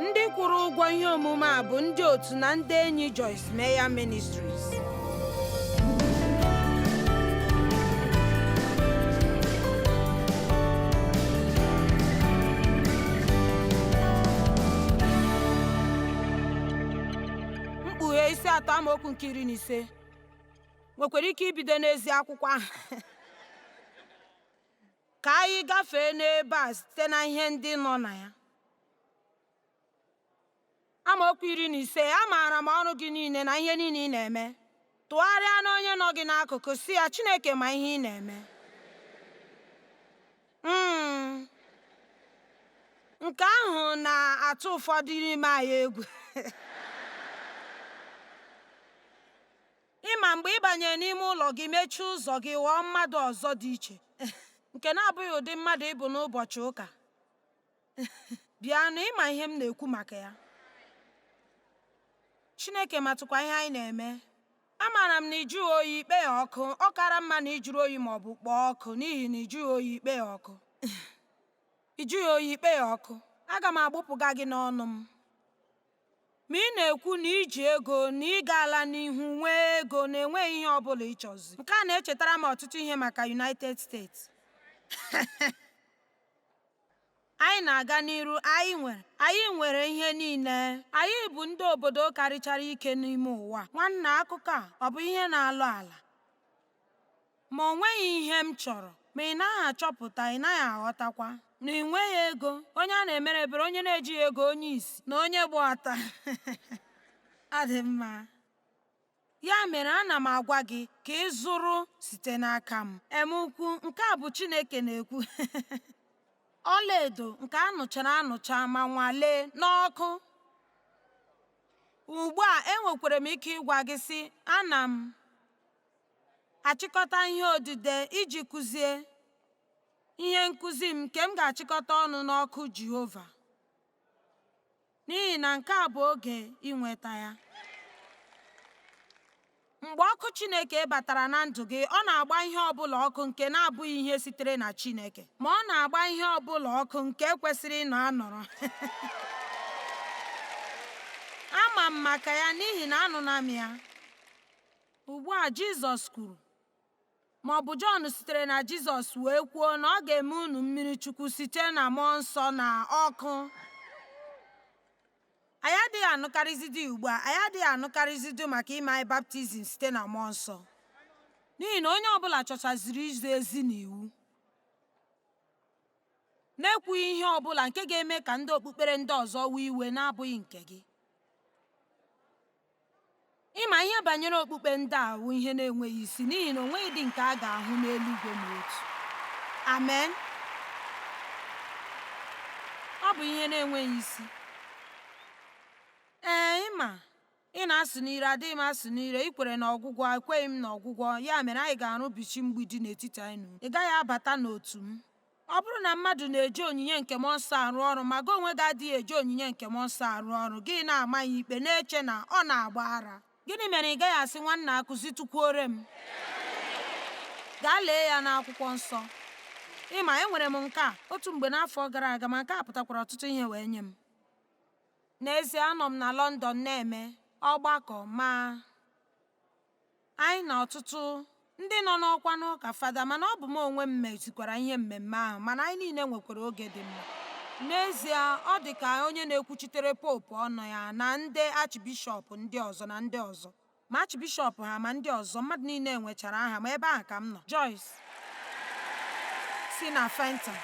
ndị kwụrụ ụgwọ ihe omume a bụ ndị otu na ndị enyi Joyce Meyer Ministries mkpughe isi atọ amaokwu nke iri na ise nwekwara ike ibido n'ezi akwụkwọ ahụ Ka anyị gafee n'ebe a site na ihe ndị nọ na ya. Amaokwu iri na ise amaara m ọrụ gị niile na ihe niile ị na-eme. Tụgharịa n'onye nọ gị n'akụkụ sị ya Chineke ma ihe ị na-eme. Mm. Nke ahụ na-atụ ụfọdụ n'ime anyị egwu. Ị ma mgbe ị banyere n'ime ụlọ gị mechie ụzọ gị ghọọ mmadụ ọzọ dị iche nke na-abụghị ụdị mmadụ ị bụ n'ụbọchị ụka bịanụ ị ma ihe m na-ekwu maka ya Chineke matụkwa ihe anyị na-eme amaara m na ị jụghị oyi i kpoghị ọkụ ọ kara mma na ị jụrụ oyi ma ọ bụ kpoo ọkụ n'ihi na ị jụghị oyi i kpoghị ọkụ ị jụghị oyi i kpoghị ọkụ aga m agbụpụga gị n'ọnụ m Ma ị na-ekwu na i ji ego na ị gaala n'ihu nwee ego na enweghị ihe ọ bụla ị chọzi. Nke a na-echetara m ọtụtụ ihe maka United States. Anyị na-aga n'iru, anyị nwere, anyị nwere ihe niile. Anyị bụ ndị obodo karịchara ike n'ime ụwa. Nwanna, akụkọ a ọ bụ ihe na-alọ ala? Ma o nweghị ihe m chọrọ, ma ị naghị achọpụta, ị naghị aghọtakwa na ị nweghị ego, onye a na-emere ebere, onye na-ejighị ego, onye isi, na onye gba ọtọ. Ọ dị mma. Ya mere ana m agwa gị ka ị zụrụ site n'aka m. Em ukwu, nke a bụ Chineke na-ekwu. Ọlaedo nke a nụchara anụcha ma nwalee n'ọkụ. Ugbu a enwekwara m ike ịgwa gị sị, ana m achịkọta ihe odide iji kụzie ihe nkụzi m nke m ga-achịkọta ọnụ n'ọkụ Jehova n'ihi na nke a bụ oge inweta ya. Mgbe ọkụ Chineke batara na ndụ gị, ọ na-agba ihe ọbụla ọkụ nke na-abụghị ihe sitere na Chineke, ma ọ na-agba ihe ọbụla ọkụ nke kwesịrị ịnọ anọrọ. Ama m maka ya n'ihi na anụla m ya. Ugbu a Jizọs kwuru, ma ọ bụ Jọn sitere na Jizọs wee kwuo na ọ ga-eme unu mmiri chukwu site na mmụọ nsọ na ọkụ. Anyị adịghị anụkarịzidi ugbu a, anyị adịghị anụkarịzidi maka ime anyị baptizim site na mmụọ nsọ, n'ihi na onye ọbụla chọchaziri izi ezi na iwu na-ekwughị ihe ọbụla nke ga-eme ka ndị okpukpere ndị ọzọ wee iwe na-abụghị nke gị. Ị ma ihe banyere okpukpe ndị a wụ ihe na-enweghị isi n'ihi na o nweghịdị nke a ga-ahụ n'eluigwe ma otu. Amen. Ọ bụ ihe na-enweghị isi. Ee, ị ma, ị na-asụ n'ire, adịghị m asụ n'ire, ị kwere na ọgwụgwọ, ekweghị m na ọgwụgwọ, ya mere anyị ga-arụbichi mgbidi n'etiti anyị na unu. Ị gaghị abata n'otu m. Ọ bụrụ na mmadụ na-eji onyinye nke mmụọ nsọ arụ ọrụ ma gị onwe gị adịghị eji onyinye nke mmụọ nsọ arụ ọrụ, gị na-ama ya ikpe na-eche na ọ na-agba ara. Gịnị mere ị gaghị asị nwanna akụzitụkwuore m? Gaa lee ya n'akwụkwọ nsọ. Ị ma enwere m nke a otu mgbe n'afọ gara aga ma nke a pụtakwara ọtụtụ ihe wee nye m. N'ezie anọ m na London na-eme ọgbakọ ma Anyị na ọtụtụ ndị nọ n'ọkwa n'ụka fada mana ọ bụ m onwe m mezikwara ihe mmemme ahụ mana anyị niile nwekwara oge dị mma. N'ezie, ọ dị ka onye na-ekwuchitere popu ọnụ ya na ndị achịbishọp ndị ọzọ na ndị ọzọ. Ma achịbishọp ha ma ndị ọzọ, mmadụ niile nwechara aha, ma ebe ahụ ka m nọ. Joyce. si na Fenton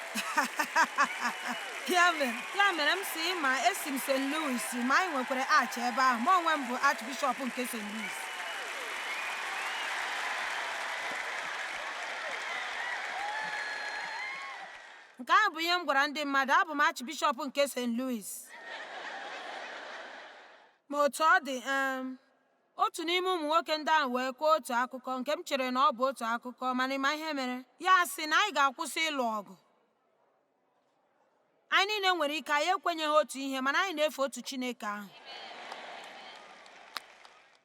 ya mere m sị ma esi m st louis ma anyị nwekwara arch ebe ahụ ma onwe m bụ archbishọp nke st louis nke ahụ bụ ihe m gwara ndị mmadụ abụ m archbishọp nke st louis ma otu ọ dị um, otu n'ime ụmụ nwoke ndị ahụ wee kọọ otu akụkọ nke m chere na ọ bụ otu akụkọ mana ị ma ihe mere ya sị na anyị ga-akwụsị ịlụ ọgụ anyị niile nwere ike anyị ekwenyeghị otu ihe mana anyị na-efe otu Chineke ahụ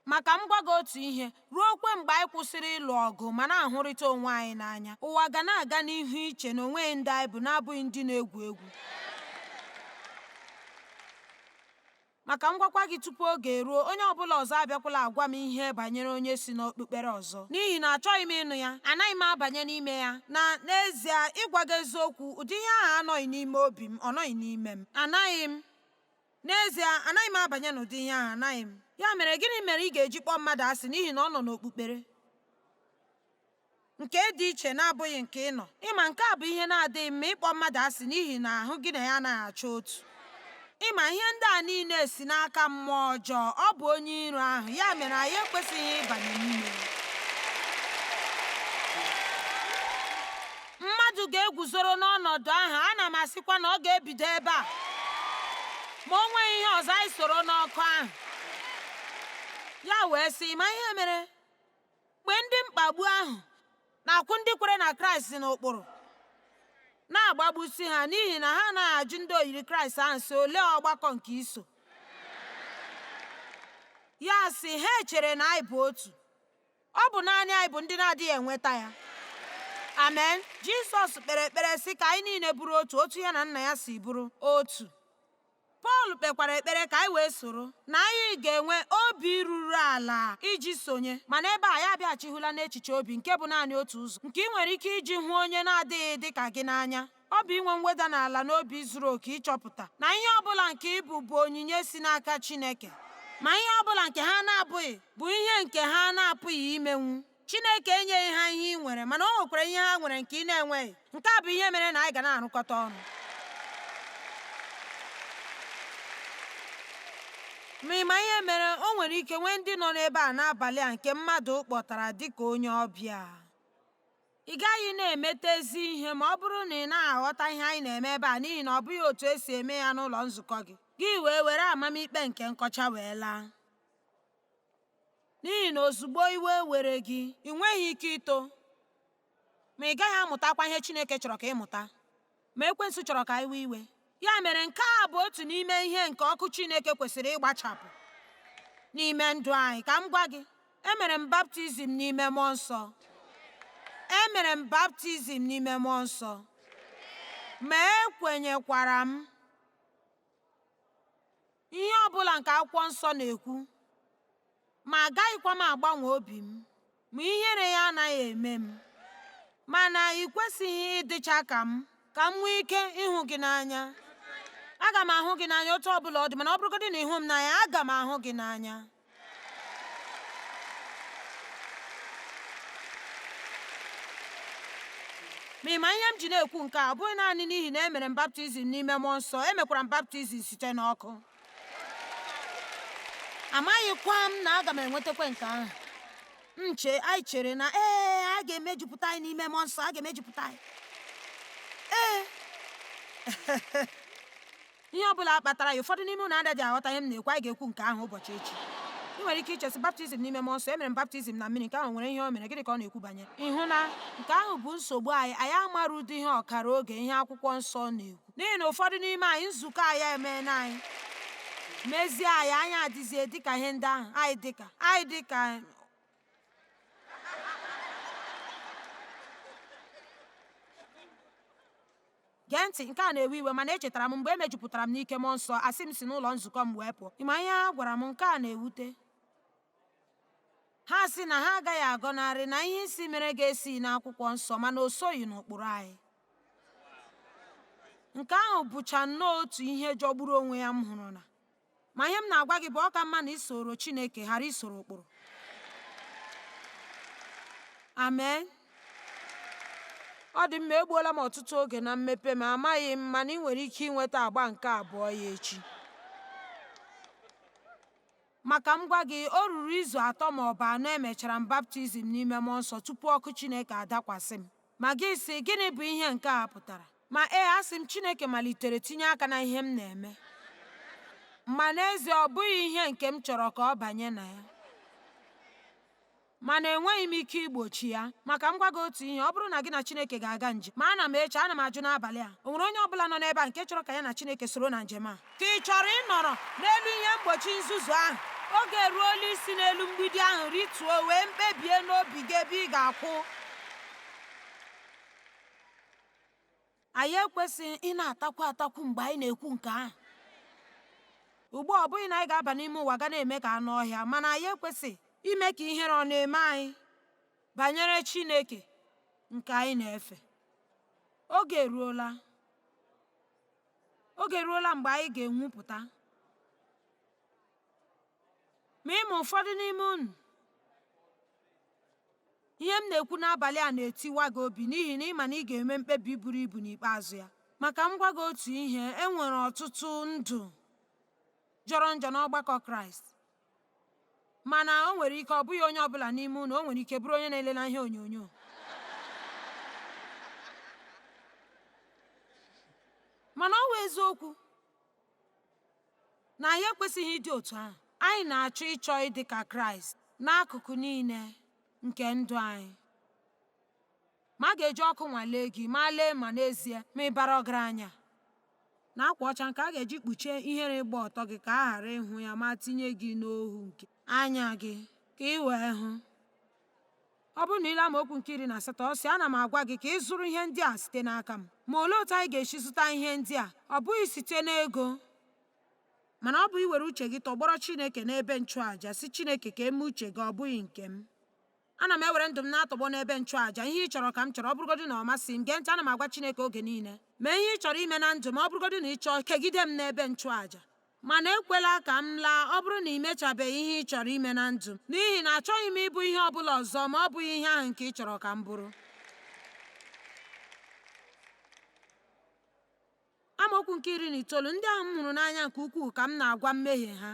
ma ka m gwa gị otu ihe ruokwe mgbe anyị kwụsịrị ịlụ ọgụ ma na-ahụrịta onwe anyị n'anya ụwa ga na-aga n'ihu iche na o nweghị ndị anyị bụ na-abụghị ndị na-egwu egwu Ma ka m gwakwa gị tupu oge eruo, onye ọ bụla ọzọ abịakwala agwa m ihe banyere onye si n'okpukpere ọzọ, n'ihi na achọghị m ịnụ ya, anaghị m abanye n'ime ya. Na n'ezie, ịgwa gị eziokwu, ụdị ihe ahụ anọghị n'ime obi m, ọ nọghị n'ime m. Anaghị m. N'ezie, anaghị m abanye n'ụdị ihe ahụ, anaghị m. Ya mere, gịnị mere ị ga-eji kpọọ mmadụ asị n'ihi na ọ nọ n'okpukpere? nke dị iche na-abụghị nke ị nọ ị ma nke a bụ ihe na-adịghị mma ịkpọ mmadụ asị n'ihi na ahụ gị na ya anaghị acha otu ị ma ihe ndị a niile si n'aka mmụọ ọjọọ ọ bụ onye iro ahụ ya mere anyị ekwesịghị ịbanye n'ime mmadụ ga-eguzoro n'ọnọdụ ahụ ana m asịkwa na ọ ga-ebido ebe a ma o nweghị ihe ọzọ anyị soro n'ọkụ ahụ ya wee sị ma ihe mere Mgbe ndị mkpagbu ahụ na-akwụ ndị kwere na Kraịst n'ụkpụrụ, na-agbagbusi ha n'ihi na ha anaghị ajụ ndị oyiri Kraịst ahụ sị olee ọgbakọ nke i so ya sị ha echere na anyị bụ otu ọ bụ naanị anyị bụ ndị na-adịghị enweta ya amen Jizọs kpere ekpere sị ka anyị niile bụrụ otu otu ya na nna ya si bụrụ otu Pọl kpekwara ekpere ka anyị wee soro, na anyị ga-enwe obi ruru ala iji sonye. Ma n'ebe a, anyị abịaghachihụla n'echiche obi nke bụ naanị otu ụzọ nke ị nwere ike iji hụ onye na-adịghị dị ka gị n'anya. Ọ bụ inwe mweda n'ala n'obi zuru oke ịchọpụta na ihe ọ bụla nke ị bụ bụ onyinye si n'aka Chineke. Ma ihe ọ bụla nke ha na-abụghị bụ ihe nke ha na-apụghị imenwu. Chineke enyeghị ha ihe ị nwere mana o nwekwara ihe ha nwere nke ị na-enweghị nke a bụ ihe mere na anyị ga na-arụkọta ọnụ ma ị ma ihe mere o nwere ike nwee ndị nọ n'ebe a n'abalị a nke mmadụ kpọtara dịka onye ọbịa ị gaghị na-emeta ezi ihe ma ọ bụrụ na ị naghị aghọta ihe anyị na-eme ebe a n'ihi na ọ bụghị otu e si eme ya n'ụlọ nzukọ gị gị wee were amamikpe nke nkọcha wee laa N'ihi na ozugbo iwe were gị, ị nweghị ike ito, ma ị gaghị amụtakwa ihe Chineke chọrọ ka ị mụta, ma ekwensu chọrọ ka i wee iwe. Ya mere nke a bụ otu n'ime ihe nke ọkụ Chineke kwesịrị ịgbachapụ n'ime ndụ anyị. Ka m gwa gị, emere m baptizim n'ime mmụọ nsọ. Emere m baptizim n'ime mmụọ nsọ. Ma ekwenyekwara m ihe ọ bụla nke akwụkwọ nsọ na-ekwu ma agaghịkwa m agbanwe obi m ma ihere ya anaghị eme m mana ị kwesịghị ịdịcha ka m ka m nwee ike ịhụ gị n'anya aga m ahụ gị n'anya otu ọ bụla ọ dị mana ọ bụrụgodị na ị hụ m n'anya aga m ahụ gị n'anya ma ị ma ihe m ji na-ekwu nke a ọ bụghị naanị n'ihi na emere m baptizim n'ime mmụọ nsọ emekwara m baptizim site n'ọkụ amaghịkwa m na aga m enwetakwa nke ahụ nche anyị chere na ee a ga-emejupụta anyị n'ime mmụọ nsọ a ga-emejupụta anyị ee ihe ọ bụla kpatara ya ụfọdụ n'ime unu adịghị aghọta ihe m na-ekwu anyị ga-ekwu nke ahụ ụbọchị echi ị nwere ike iche sị baptizim n'ime mmụọ nsọ emere m baptizim na mmiri nke ahụ nwere ihe o mere gịnị ka ọ na-ekwu banyere ịhụ na nke ahụ bụ nsogbu anyị anyị amara ụdị ihe ọkara oge ihe akwụkwọ nsọ na-ekwu n'ihi na ụfọdụ n'ime anyị nzukọ anyị emeela anyị mezie anyị anyị adịzie dịka ihe ndị ahụ anyị dịka anyị dịka Gee ntị, nke a na-ewe iwe, mana echetara m mgbe e mejupụtara m n'ike mmụọ nsọ, asị m si n'ụlọ nzukọ m wee pụọ. Ịma ihe ha gwara m, nke a na-ewute. Ha sị na ha agaghị agọnarị na ihe ị sị mere gị esighị n'akwụkwọ nsọ mana o soghị n'ụkpụrụ anyị. Nke ahụ bụcha nnọọ otu ihe jọgburu onwe ya m hụrụla. Ma ihe m na-agwa gị bụ ọ ka mma na ị soro Chineke ghara isoro ụkpụrụ. Amen. Ọ dị mma, egbuola m ọtụtụ oge na mmepe, ma amaghị m mana ị nwere ike inweta agba nke abụọ ya echi. Ma ka m gwa gị, o ruru izu atọ ma ọ bụ anọ emechara m baptizim n'ime mmụọ nsọ tupu ọkụ Chineke adakwasị m. Ma gị sị, gịnị bụ ihe nke a pụtara? Ma ee, asị m Chineke malitere tinye aka na ihe m na-eme. Ma n'ezie ọ bụghị ihe nke m chọrọ ka ọ banye na ya. Mana enweghị m ike igbochi ya. Ma ka m gwa gị otu ihe, ọ bụrụ na gị na Chineke ga-aga njem, ma ana m eche, ana m ajụ n'abalị a, o nwere onye ọbụla nọ n'ebe a nke chọrọ ka ya na Chineke soro na njem a? Ka ị chọrọ ịnọrọ n'elu ihe mgbochi nzuzu ahụ? Oge eruola isi n'elu mgbidi ahụ rịtuo wee mkpebie n'obi gị ebe ị ga-akwụ. Anyị ekwesịghị ị na-atakwu atakwu mgbe anyị na-ekwu nke ahụ. Ugbu a ọ bụghị na anyị ga-aba n'ime ụwa gaa na-eme ka anụ ọhịa, mana anyị ekwesịghị ime ka ihere ọ na-eme anyị banyere Chineke nke anyị na-efe. Oge eruola oge eruola mgbe anyị ga-enwupụta ma ị ma ụfọdụ n'ime unu Ihe m na-ekwu n'abalị a na-etiwa gị obi n'ihi na ị ma na ị ga-eme mkpebi buru ibu n'ikpeazụ ya. Ma ka m gwa gị otu ihe, e nwere ọtụtụ ndụ jọrọ njọ n'ọgbakọ Kraịst. Mana o nwere ike ọ bụghị onye ọbụla n'ime unu, o nwere ike bụrụ onye na-elela ihe onyonyo. Mana ọ wụ eziokwu na anyị ekwesịghị ịdị otu ahụ. Anyị na-achọ ịchọ ịdị ka Kraịst n'akụkụ niile nke ndụ anyị. Ma a ga-eji ọkụ nwalee gị ma lee ma n'ezie ma ị bara ọgaranya. Na akwa ọcha nke a ga-eji kpuchie ihere ịgba ọtọ gị ka a ghara ịhụ ya ma tinye gị n'ohu nke anya gị ka ị wee hụ. Ọ bụrụ na i lee amaokwu nke iri na asatọ ọ sị ana m agwa gị ka ị zụrụ ihe ndị a site n'aka m ma olee otu anyị ga-esi zụta ihe ndị a ọ bụghị site n'ego mana ọ bụ iwere uche gị tọgbọrọ Chineke n'ebe nchụàja sị Chineke ka e mee uche gị ọ bụghị nke m ana m ewere ndụ m na-atọgbọ n'ebe nchụàja ihe ị chọrọ ka m chọrọ ọ bụrụgodị na ọ masị m gee ntị ana m agwa Chineke oge niile mee ihe ị chọrọ ime na ndụ m ọ bụrụgodị na ị chọọ kegide m n'ebe nchụàja Mana ekwela ka m laa ọ bụrụ na i mechabeghị ihe ị chọrọ ime na ndụ m, n'ihi na achọghị m ịbụ ihe ọ bụla ọzọ ma ọ bụghị ihe ahụ nke ị chọrọ ka m bụrụ. Amaokwu nke iri na itoolu ndị ahụ m hụrụ n'anya nke ukwuu ka m na-agwa mmehie ha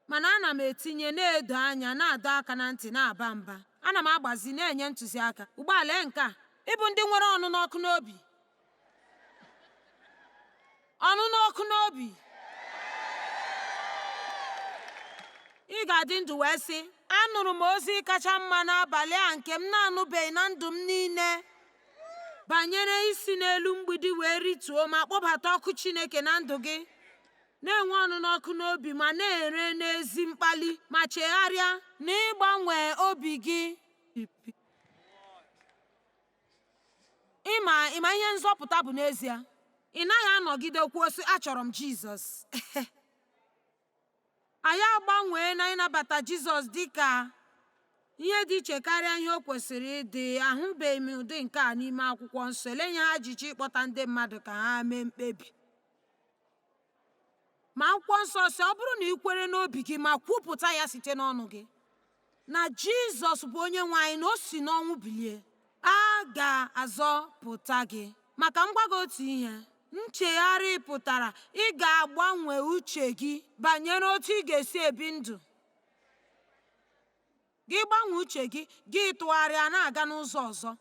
mana ana m etinye na-edo anya na-adọ aka na ntị na-aba mba ana m agbazi na-enye ntụziaka ugbu a lee nke a ịbụ ndị nwere ọnụnụ ọkụ n'obi ọnụnụ ọkụ n'obi ị ga-adị ndụ wee sị anụrụ m ozi kacha mma n'abalị a nke m na-anụbeghị na ndụ m niile banyere isi n'elu mgbidi wee rituo ma kpọbata ọkụ Chineke na ndụ gị na-enwe ọnụnụ ọkụ n'obi ma na-ere n'ezi mkpali ma chegharịa na ịgbanwe obi gị ị ma ihe nzọpụta bụ n'ezie ị naghị anọgide kwuo sị achọrọ m jizọs anyị agbanwee na ịnabata jizọs dị ka ihe dị iche karịa ihe o kwesịrị ịdị ahụbeghị m ụdị nke a n'ime akwụkwọ nsọ elee ihe ha jiri kpọta ndị mmadụ ka ha mee mkpebi ma akwụkwọ nsọ sị ọ bụrụ na ị kwere n'obi gị ma kwupụta ya site n'ọnụ gị na jizọs bụ onye nwe anyị na o si n'ọnwụ bilie a ga-azọpụta gị ma ka m gwa gị otu ihe nchegharị pụtara ị ga-agbanwe uche gị banyere otu ị ga-esi ebi ndụ Gị gbanwee uche gị, gị tụgharịa na-aga n'ụzọ ọzọ.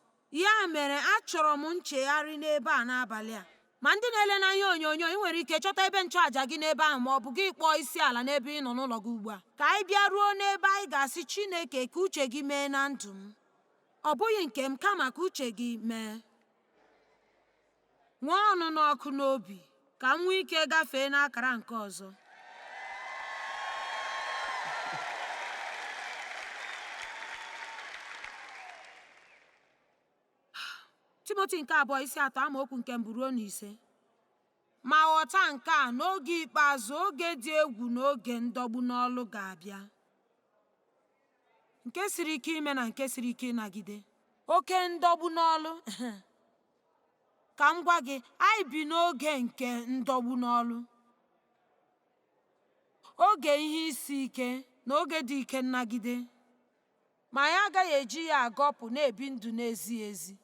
Ya mere, achọrọ m nchegharị n'ebe a n'abalị a. Ma ndị na-ele n'ihe onyonyo, ị nwere ike chọta ebe nchụaja gị n'ebe ahụ ma ọ bụ gị kpọọ isi ala n'ebe ị nọ n'ụlọ gị ugbu a. Ka anyị bịa ruo n'ebe anyị ga-asị Chineke ka uche gị mee na ndụ m. Ọ bụghị nke m, kama ka uche gị mee. Nwee ọnụnụ ọkụ n'obi ka m nwee ike gafee n'akara nke ọzọ. Timoti nke abụọ isi atọ amaokwu nke mbụ ruo na ise ma ghọta nke a n'oge ikpeazụ oge dị egwu na oge ndọgbu n'ọlụ ga-abịa nke siri ike ime na nke siri ike ịnagide oke ndọgbu n'ọlụ Ka m gwa gị, anyị bi n'oge nke ndọgbu n'ọlụ, oge ihe isi ike, na oge dị ike nnagide, ma anyị agaghị eji ya agọpụ na-ebi ndụ na-ezighị ezi.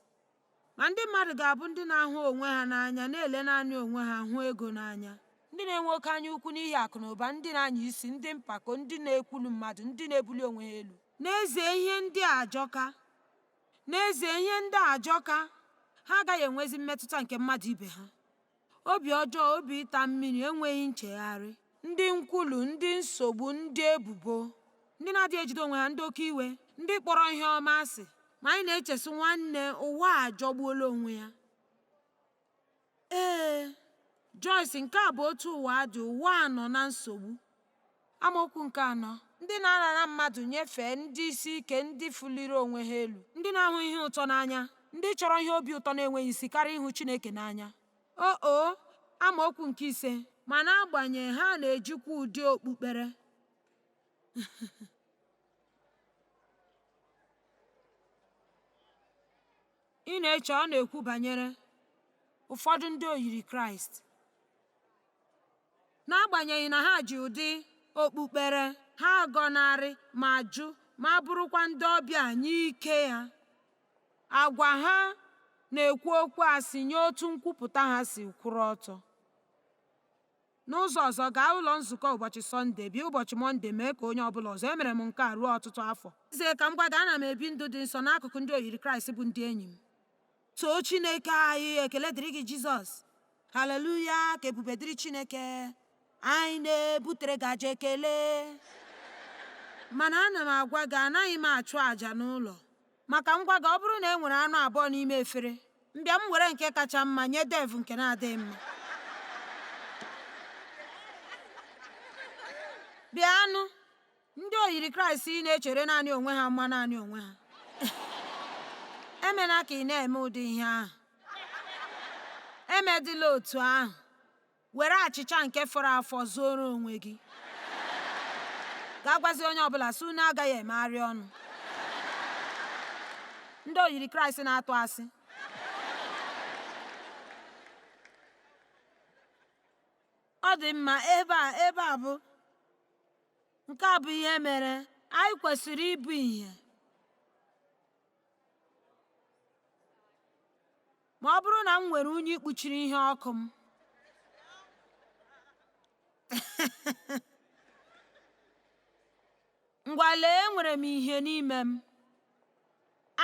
Ma ndị mmadụ ga-abụ ndị na-ahụ onwe ha n'anya, na-ele naanị onwe ha, hụ ego n'anya. Ndị na-enwe oke anya ukwu n'ihi akụ na ụba, ndị na-anya isi, ndị mpako, ndị na-ekwulu mmadụ, ndị na-ebuli onwe ha elu. N'ezie, ihe ndị a ajọka. N'ezie, ihe ndị a ajọka, ha agaghị enwezi mmetụta nke mmadụ ibe ha. Obi ọjọọ, obi ịta mmiri, enweghị nchegharị, ndị nkwulu, ndị nsogbu, ndị ebubo, ndị na-adịghị ejide onwe ha, ndị oke iwe, ndị kpọrọ ihe ọma asị. Ma anyị na-eche sị nwanne, ụwa a ajọgbuola onwe ya. Ee, Joyce, nke a bụ otu ụwa dị, ụwa a nọ na nsogbu. Amaokwu nke anọ ndị na-arara mmadụ nyefee ndị isi ike ndị fụliri onwe ha elu ndị na-ahụ ihe ụtọ n'anya ndị chọrọ ihe obi ụtọ na-enweghị isi karịa ịhụ Chineke n'anya o o amaokwu nke ise ma n'agbanyeghị ha na-ejikwa ụdị okpukpere Ị na-eche ọ na-ekwu banyere ụfọdụ ndị oyiri Kraịst? N'agbanyeghị na ha ji ụdị okpukpere ha agọnarị ma jụ ma bụrụkwa ndị ọbịa nye ike ya, agwa ha na-ekwu okwu asị nye otu nkwupụta ha si kwụrụ ọtọ. N'ụzọ ọzọ, gaa ụlọ nzukọ ụbọchị Sọnde, bịa ụbọchị Mọnde, mee ka onye ọ bụla ọzọ. Emere m nke a ruo ọtụtụ afọ. Ezie, ka m gwa gị, ana m ebi ndụ dị nsọ n'akụkụ ndị oyiri Kraịst bụ ndị enyi m. Too Chineke anyị! Ekele dịrị gị, Jizọs! Haleluya! Ka ebube dịrị Chineke! Anyị na-ebutere gị aja ekele. Mana ana m agwa gị, anaghị m achụ aja n'ụlọ. Ma ka m gwa gị, ọ bụrụ na e nwere anụ abụọ n'ime efere, m bịa m were nke kacha mma nye Dave nke na-adịghị mma. Bịanụ, ndị oyiri Kraịst ị na-echere naanị onwe ha mma naanị onwe ha. Emela ka ị na-eme ụdị ihe ahụ. Emedịla otu ahụ. were achịcha nke fọrọ afọ zooro onwe gị gaa gwazie onye ọbụla sị unu agaghị emegharị ọnụ ndị oyiri kraịst na-atụ asị ọ dị mma ebe a bụ nke a bụ ihe mere anyị kwesịrị ịbụ ihe Ma ọ bụrụ na m nwere unyi kpuchiri ihe ọkụ m, ngwa lee enwere m ihe n'ime m.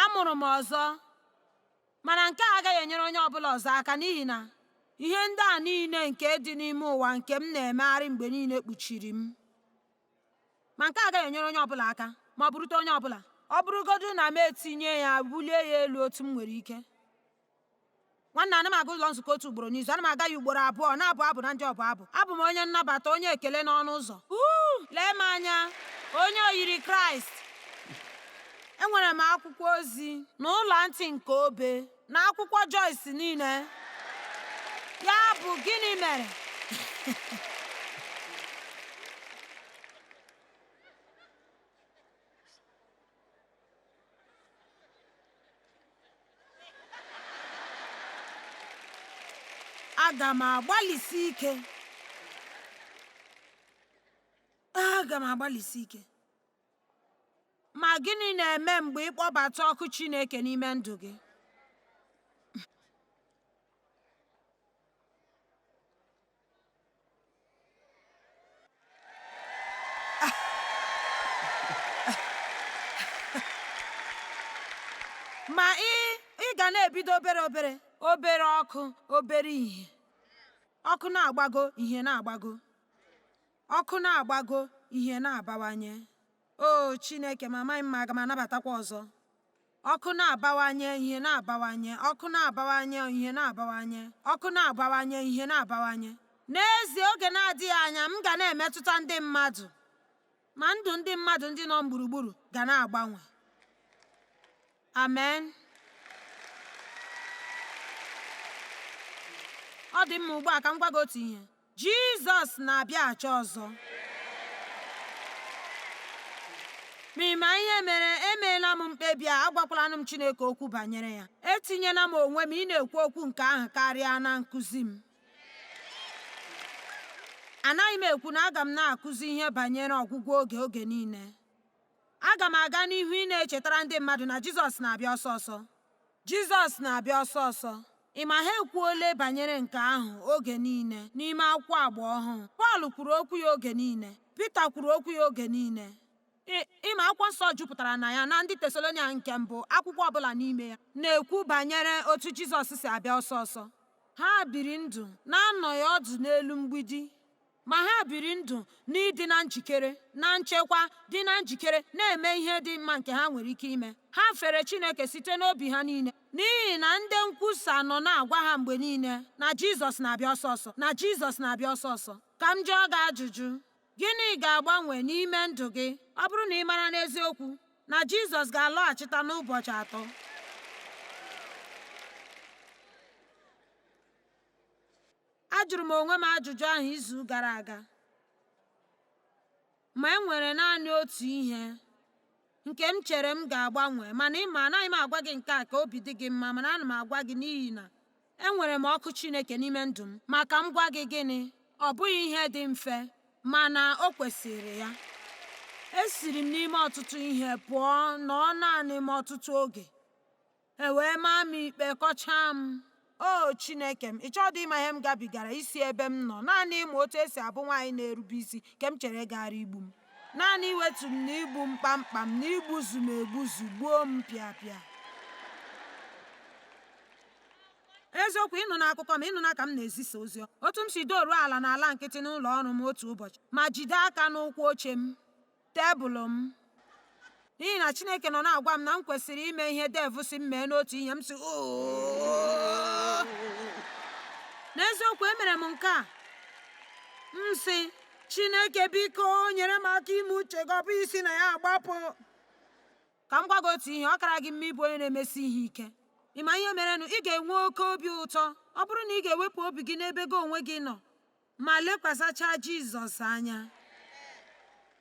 Amụrụ m ọzọ, mana nke a agaghị enyere onye ọbụla ọzọ aka n'ihi na ihe ndị a niile nke dị n'ime ụwa nke m na-emegharị mgbe niile kpuchiri m. ma nke a agaghị enyere onye ọbụla aka ma ọ bụrụta onye ọbụla ọ bụrụgodu na m etinye ya bulie ya elu otu m nwere ike nwanne ana m aga ụlọ nzukọ otu ugboro n'izu ana m aga ya ugboro abụọ na-abụ abụ na ndị ọbụ abụ abụ m onye nnabata onye ekele n'ọnụ ụzọ lee m anya onye oyiri kraịst enwere m akwụkwọ ozi na ọla ntị nke obe na akwụkwọ Joyce niile ya bụ gịnị mere aga m agbalịsi ike aga m agbalịsi ike Ma gịnị na-eme mgbe ị kpọbata ọkụ Chineke n'ime ndụ gị? ma ị ị ga na-ebido obere obere obere ọkụ obere ihe ọkụ na-agbago ihe na-agbago ọkụ na-agbago ihe na-abawanye o Chineke m amaghị m ma aga m anabatakwa ọzọ ọkụ na-abawanye ihe na-abawanye ọkụ na-abawanye ihe na-abawanye ọkụ na-abawanye ihe na-abawanye n'ezie oge na-adịghị anya m ga na-emetụta ndị mmadụ ma ndụ ndị mmadụ ndị nọ m gburugburu ga na-agbanwe amen ọ dị mma ugbu a ka m gwa gị otu ihe Jizọs na-abịaghachi ọzọ. Ma ị ma ihe mere emeela m mkpebi a agwakwalanụ m Chineke okwu banyere ya etinyela m onwe m ị na-ekwu okwu nke ahụ karịa na nkụzi m anaghị m ekwu na aga m na-akụzi ihe banyere ọgwụgwụ oge oge niile Aga m aga n'ihu ị na-echetara ndị mmadụ na Jizọs na-abịa ọsọ ọsọ. Jizọs na-abịa ọsọ ọsọ. Ị ma ha ekwuole banyere nke ahụ oge niile n'ime akwụkwọ Agba Ọhụụ. Pọl kwuru okwu ya oge niile. Pita kwuru okwu ya oge niile. Ị ma akwụkwọ nsọ jupụtara na ya na ndị Tesalonia nke mbụ akwụkwọ ọbụla n'ime ya na-ekwu banyere otu Jizọs si abịa ọsọ ọsọ. Ha biri ndụ na-anọghị ọdụ n'elu mgbidi. Ma ha biri ndụ n'ịdị na njikere, na nchekwa, dị na njikere, na-eme ihe dị mma nke ha nwere ike ime. Ha fere Chineke site n'obi ha niile, n'ihi na ndị nkwusa nọ na-agwa ha mgbe niile na Jizọs na-abịa ọsọ ọsọ, na Jizọs na-abịa ọsọ ọsọ. Ka m jụọ gị ajụjụ, Gịnị ga-agbanwe n'ime ndụ gị ọ bụrụ na ị mara n'eziokwu na Jizọs ga-alọghachita n'ụbọchị atọ? Ajụrụ m onwe m ajụjụ ahụ izu gara aga, ma e nwere naanị otu ihe nke m chere m ga-agbanwe, mana ị ma anaghị m agwa gị nke a ka obi dị gị mma, mana ana m agwa gị n'ihi na enwere m ọkụ Chineke n'ime ndụ m. Ma ka m gwa gị gịnị, ọ bụghị ihe dị mfe, mana o kwesịrị ya. Esiri m n'ime ọtụtụ ihe pụọ nọọ naanị m ọtụtụ oge. E wee maa m ikpe, kọchaa m. O Chineke m, ị chọdụ ịma ihe m gabigara isi ebe m nọ, naanị ịmụ otu e si abụ nwaanyị na-erube isi nke m chere gaara igbu m. Naanị iwetu m na igbu m kpamkpam na igbuzu m egbuzu gbuo m pịapịa. eziokwu ị nụna akụkọ m ị nụna ka m na-ezisa ozi otu m si doruo ala n'ala nkịtị n'ụlọ ọrụ m otu ụbọchị ma jide aka n'ụkwụ oche m tebụl m n'ihi na Chineke nọ na-agwa m na m kwesịrị ime ihe Dave sị m mee n'otu ihe m sị n'eziokwu emere m nke a m sị Chineke biko nyere m aka ime uche gị ọ bụ isi na ya agbapụ ka m gwa gị otu ihe ọ kara gị mma ịbụ onye na-emesi ihe ike ị ma ihe merenụ ị ga-enwe oke obi ụtọ ọ bụrụ na ị ga-ewepụ obi gị n'ebe gị onwe gị nọ ma lekwasachaa Jizọs anya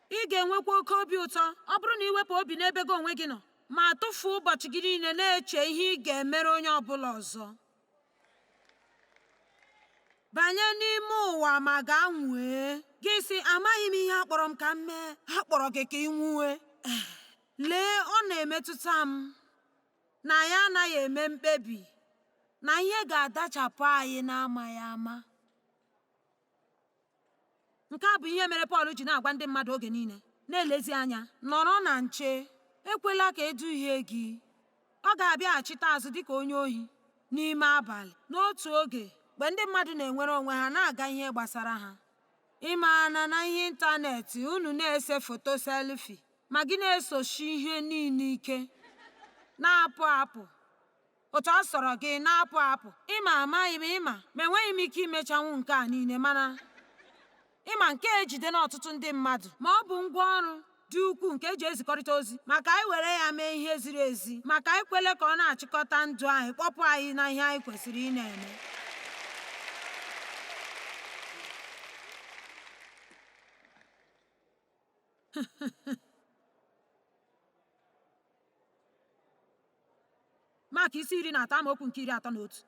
ị ga-enwekwa oke obi ụtọ ọ bụrụ na i wepụ obi n'ebe gị onwe gị nọ ma tụfuo ụbọchị gị niile na-eche ihe ị ga-emere onye ọ bụla ọzọ banye n'ime ụwa ma gaa nwue gị sị amaghị m ihe a kpọrọ m ka m mee a kpọrọ gị ka ị nwue lee ọ na-emetụta m na anyị anaghị eme mkpebi na ihe ga-adachapụ anyị n'amaghị ama nke a bụ ihe mere Pọl ji na-agwa ndị mmadụ oge niile na-elezi anya nọrọ na nche ekwela ka e duhie gị ọ ga-abịaghachite azụ dịka onye ohi n'ime abalị n'otu oge mgbe ndị mmadụ na-enwere onwe ha na-aga ihe gbasara ha ị maana na ihe ịntanetị unu na-ese foto selfie Ma gị na-esochi ihe niile ike, na-apụ apụ otu ọ sọrọ gị, na-apụ apụ. Ị ma, amaghị m, ị ma, ma enweghị m ike imechanwu nke a niile, mana, ị ma, nke a ejidela ọtụtụ ndị mmadụ. Ma ọ bụ ngwa ọrụ dị ukwuu nke e ji ezikọrịta ozi. Ma ka anyị were ya mee ihe ziri ezi. Ma ka anyị kwele ka ọ na-achịkọta ndụ anyị, kpọpụ anyị na ihe anyị kwesịrị ịna-eme. Mak isi iri na atọ amaokwu nke iri atọ na otu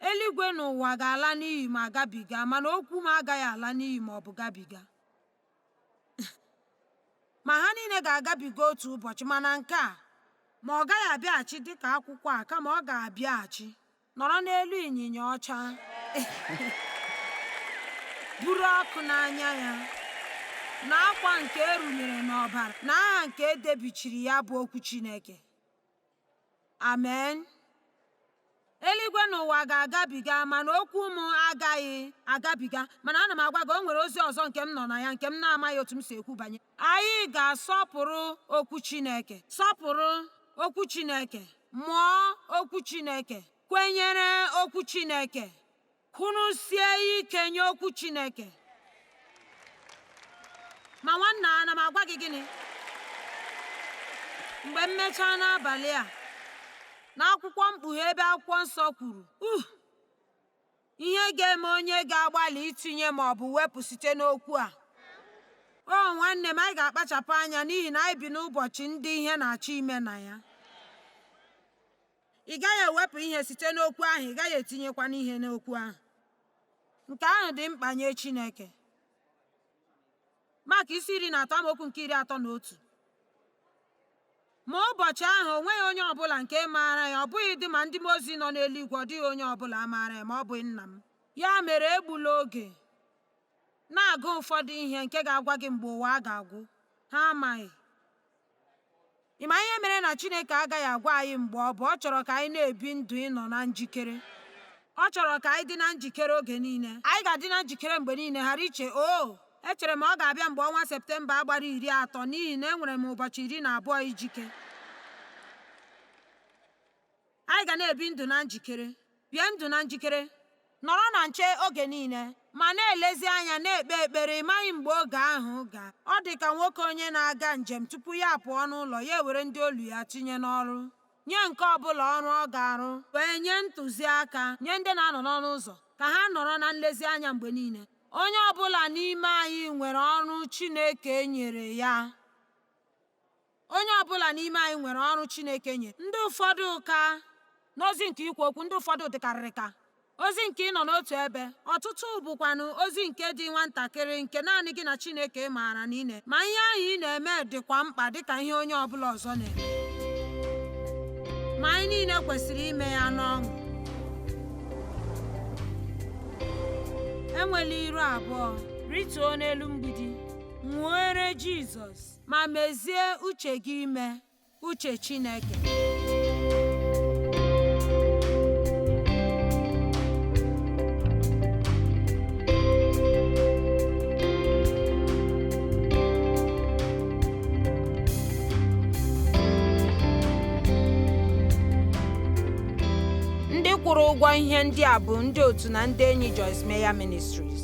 eluigwe na ụwa ga-ala n'iyi ma gabiga mana okwu m agaghị ala n'iyi ma ọ bụ gabiga ma ha niile ga-agabiga otu ụbọchị mana nke a ma ọ gaghị abịaghachi dịka akwụkwọ a kama ọ ga-abịaghachi nọrọ n'elu ịnyịnya ọcha buru ọkụ n'anya ya na akwa nke erunyere n'ọbara na aha nke edebichiri ya bụ okwu Chineke amen eluigwe na ụwa ga-agabiga mana okwu m agaghị agabiga mana ana m agwa gị o nwere ozi ọzọ nke m nọ na ya nke m na-amaghị otu m si ekwu banye Anyị ga-asọpụrụ Okwu Chineke, sọpụrụ Okwu Chineke, mụọ Okwu Chineke, kwenyere Okwu Chineke, kwụrụsie ike nye Okwu Chineke. Ma nwanna ana m agwa gị gịnị? Mgbe m mechaa n'abalị a, n'akwụkwọ mkpughe ebe akwụkwọ nsọ kwuru, uh, Ihe ga-eme onye ga-agbalị itinye ma ọ bụ wepụ site n'okwu a. O nwanne m, anyị ga-akpachapụ anya n'ihi na anyị bi n'ụbọchị ndị ihe na-achọ ime na ya. Ị gaghị ewepụ ihe site n'okwu ahụ, ị gaghị etinyekwanụ ihe n'okwu ahụ. Nke ahụ dị mkpa nye Chineke. Mak isi iri na atọ amaokwu nke iri atọ na otu ma ụbọchị ahụ o nweghị onye ọbụla nke maara ya ọ bụghịdị ma ndị mmụọ ozi nọ n'eluigwe ọ dịghị onye ọbụla maara ya ma ọ bụghị nna m ya mere egbula oge na-agụ ụfọdụ ihe nke ga-agwa gị mgbe ụwa a ga-agwụ ha amaghị Ị ma ihe mere na Chineke agaghị agwa anyị mgbe ọ bụ ọ chọrọ ka anyị na-ebi ndụ ịnọ na njikere? Ọ chọrọ ka anyị dị na njikere oge niile. Anyị ga-adị na njikere mgbe niile, ghara iche, o oh, echere m ọ ga-abịa mgbe ọnwa Septemba a gbara iri atọ n'ihi na enwere m ụbọchị iri na abụọ ijike. Anyị ga na-ebi ndụ na njikere. Bie ndụ na njikere. Nọrọ na nche oge niile, ma na-elezi anya, na-ekpe ekpere. Ị maghị mgbe oge ahụ ga. Ọ dị ka nwoke onye na-aga njem tupu ya apụọ n'ụlọ, ya ewere ndị olu ya tinye n'ọrụ. Nye nke ọ bụla ọrụ ọ ga-arụ. Wee nye ntụziaka. Nye ndị na-anọ n'ọnụ ụzọ ka ha nọrọ na nlezianya mgbe niile. Onye ọ bụla n'ime anyị nwere ọrụ Chineke nyere ya. Onye ọ bụla n'ime anyị nwere ọrụ Chineke nyere. Ndị ụfọdụ ka n'ozi nke ikwu okwu, ndị ụfọdụ dịkarịrị ka ozi nke ịnọ n'otu ebe, ọtụtụ bụkwanụ ozi nke dị nwantakịrị nke naanị gị na Chineke maara na ị na-eme. Ma ihe ahụ ị na-eme dịkwa mkpa dị ka ihe onye ọ bụla ọzọ na-eme. Ma anyị niile kwesịrị ime ya n'ọṅụ. Enwela iru abụọ. Rituo n'elu mgbidi. Nwuere Jizọs. ma mezie uche gị ime uche Chineke. Ndị kwụrụ ụgwọ ihe ndị a bụ ndị otu na ndị enyi Joyce Meyer Ministries.